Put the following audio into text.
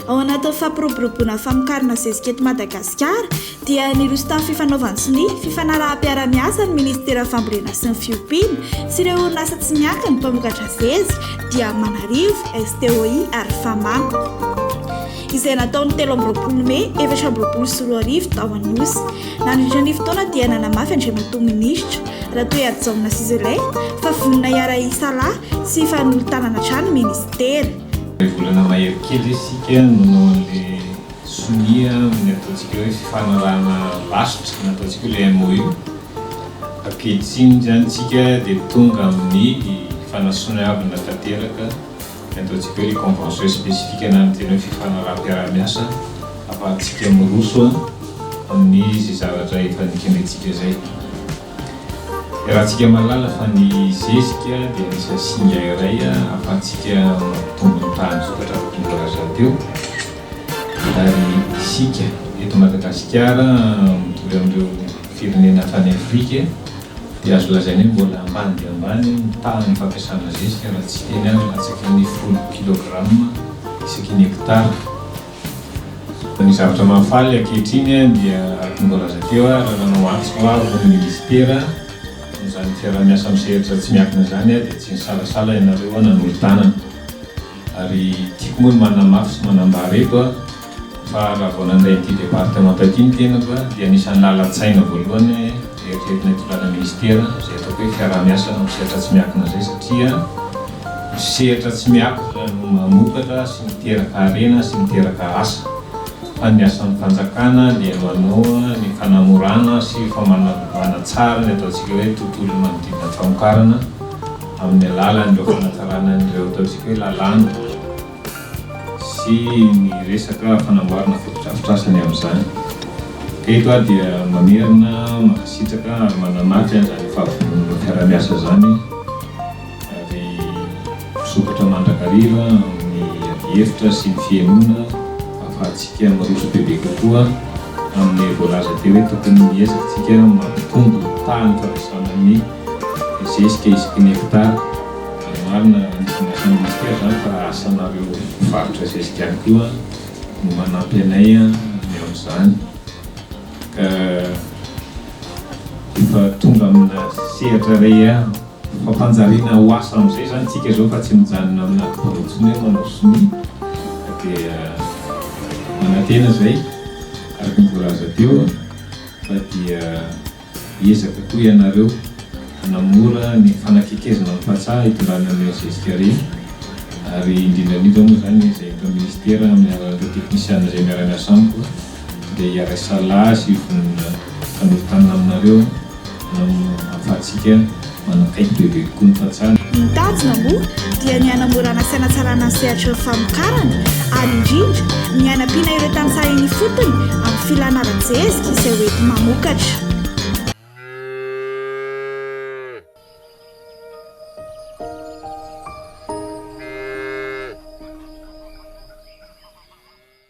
Ao anatin'ny fampiroboroboana famokarana zezika eto Madagasikara dia niroso tamin'ny fifanaovan-tsonia, fifanaraham-piarahamiasa ny minisiteran'ny fambolena sy ny fiompiana sy ireo orinasa tsy miankina mpamokatra zezika dia Manarivo, STOI ary Fama. izay natao ny telo amby roapolo mey efatra amby roapolo sy roa arivo tao Anosy. Nandritra ny fotoana dia nanamafy Andriamatoa Minisitra Ratoehajaona sy Zelahy fa vonona hiara-hisalahy sy hifanolo-tanana hatrany ny Minisitera. Iray volana mahery kely isika no noho an'ilay sonia amin'ny ataontsika hoe fifanarahana lasitra nataontsika hoe ilay MOU. Ankehitriny izany isika dia tonga amin'ny fanasonaavina tanteraka. Ny ataontsika hoe les conventions spécifiques na ny tena hoe fifanaraham-piaraha-miasa afahantsika miroso amin'ny izay zavatra efa nikendrentsika izay. Iarahantsika mahalala fa ny zezika dia anisan'ny singa iray ahafahantsika mampitombo ny tahan'ny vokatra araka ny voalazako teo ary isika eto Madagasikara mitory amin'ireo firenena hatrany Afrika e, dia azo lazaina hoe mbola ambany dia ambany ny tahan'ny fampiasana zezika raha tsy teny aza latsaky ny folo kilograma isaky ny hekitara. Ny zavatra mahafaly ankehitriny dia araka ny voalaza teo ary nanao antso avo ny minisitera amin'izany fiaraha-miasa misehatra tsy miankina izany aho dia tsy nisalasala ianareo nanolo-tanana ary tiako moa ny manamafy sy manambara eto a! Fa raha vao nandray ity departemanta ity ny tenako dia anisan'ny lalan-tsaina voalohany eritreretina ity lalana minisitera izay ataoko hoe fiaraha-miasa amin'ny sehatra tsy miankina izay satria ny sehatra tsy miankina no mamokatra sy miteraka harena sy miteraka asa fa ny asan'ny fanjakana dia manoa ny fanamorana sy famanavana tsara ny ataontsika hoe tontolon'ny manodidina ny famokarana amin'ny alalan'ireo fanatsarana an'ireo ataontsika hoe lalàna sy ny resaka fanamboarana fotodrafitrasa ny amin'izany. Eto aho dia mamerina mankasitraka ary manamafy an'izany fahavononana fiarahamiasa izany ary misokatra mandrakariva amin'ny adihevitra sy ny fihenoana ahafahantsika miroso bebe kokoa amin'ilay voalaza teo hoe tokony hiezakantsika mampitombo ny tahan'ny fandrosoana ny zezika isaky ny hekitara. Marina nitondraka ny ministera izany fa asanareo mpivarotra zezika ihany koa no hanampy anay ny amin'izany ka efa tonga amina sehatra iray ihany fampanjariana ho asa amin'izay izany isika izao fa tsy mijanona aminà birao intsony hoe manao sonia dia manantena izay araka ny voalaza teo fa dia Hiezaka koa ianareo hanamora ny fanakekezana amin'ny tantsaha hitondrana an'ireny zezika ireny ary indrindra indrindra moa izany izay eto amin'ny Minisitera amin'ny alalan'ireo teknisiana izay miara-miasa amiko dia hiarahisalasy vonona hifanoritana aminareo hampahantsika Manakaiky bebe kokoa ny fahatsarana. Ny tanjona moa dia ny hanamorana sy hanatsarana ny sehatry ny famokarana ary indrindra ny hanampiana ireo tantsaha eny ifotony amin'ny filana ara-jezika izay ho enti-mamokatra.